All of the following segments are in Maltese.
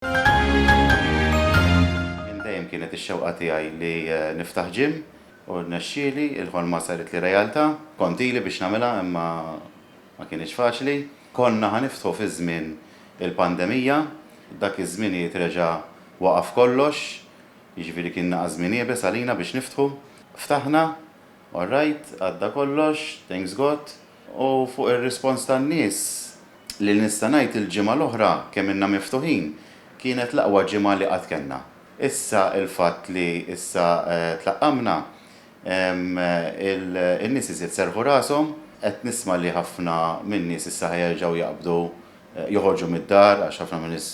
Minn dejjem kienet ix-xewqa tiegħi li niftaħ gym u rnexxieli, il-ħolma saritli realtà. Kont ili biex nagħmilha imma ma kinitx faċli. Konna ħa niftħu fi żmien il-pandemija, dak iż-żminijiet reġa' waqaf kollox, jiġifieri kien naqa' żmien iebes għalina biex niftħu. Ftaħna, orrajt, għadda kollox, thanks God. U fuq ir-rispons tan-nies, li nista' ngħid il-ġimgħa l-oħra kemm ilna miftuħin, kienet l-aqwa ġimgħa li qatt kellna. Issa il-fatt li issa tlaqqamna, in-nies iżjed serrħu rashom, qed nisma' li ħafna min-nies issa ħa jerġgħu jaqbdu joħorġu mid-dar għax ħafna min-nies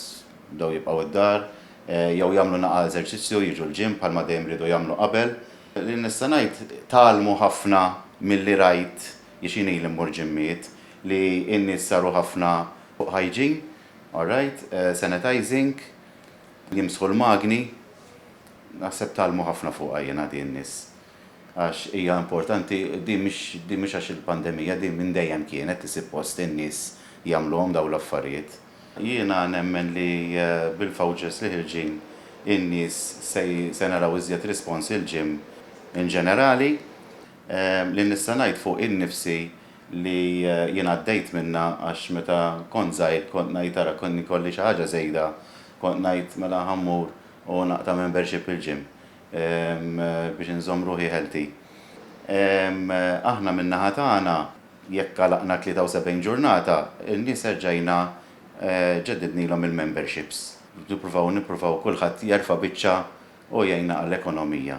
bdew jibqgħu d-dar, jew jagħmlu naqgħa eżerċizzju, jiġu l-gym bħalma dejjem riedu jagħmlu qabel, Li nista' ngħid, tgħallmu ħafna milli rajt, għax jien ili mmur ġimmiet, li n-nies saru ħafna fuq hygiene, all right, sanitizing, jimsħu l-magni, naħseb tgħallmu ħafna fuqha jiena din nies, għax hija importanti, din mhix din mhix għax il-pandemija, din minn dejjem kienet li sippost in-nies jagħmluhom dawn l-affarijiet. Jiena nemmen li bil-vouchers li ħirġin in-nies se naraw iżjed response il-gym in ġenerali. Li nista' ngħid fuq innifsi li jien għaddejt minnha għax meta kont żgħir kont ngħid ara kien ikolli xi ħaġa żejda kont ngħid mela ħa mmur u naqta' membership il-gym biex inżomm ruħi healthy. Aħna min-naħa tagħna Jekk għalaqna t-73 ġurnata, in-nies erġajna ġeddidnilhom il-memberships. Nippruvaw, nippruvaw kulħadd jerfa' biċċa u jgħinna għall-ekonomija.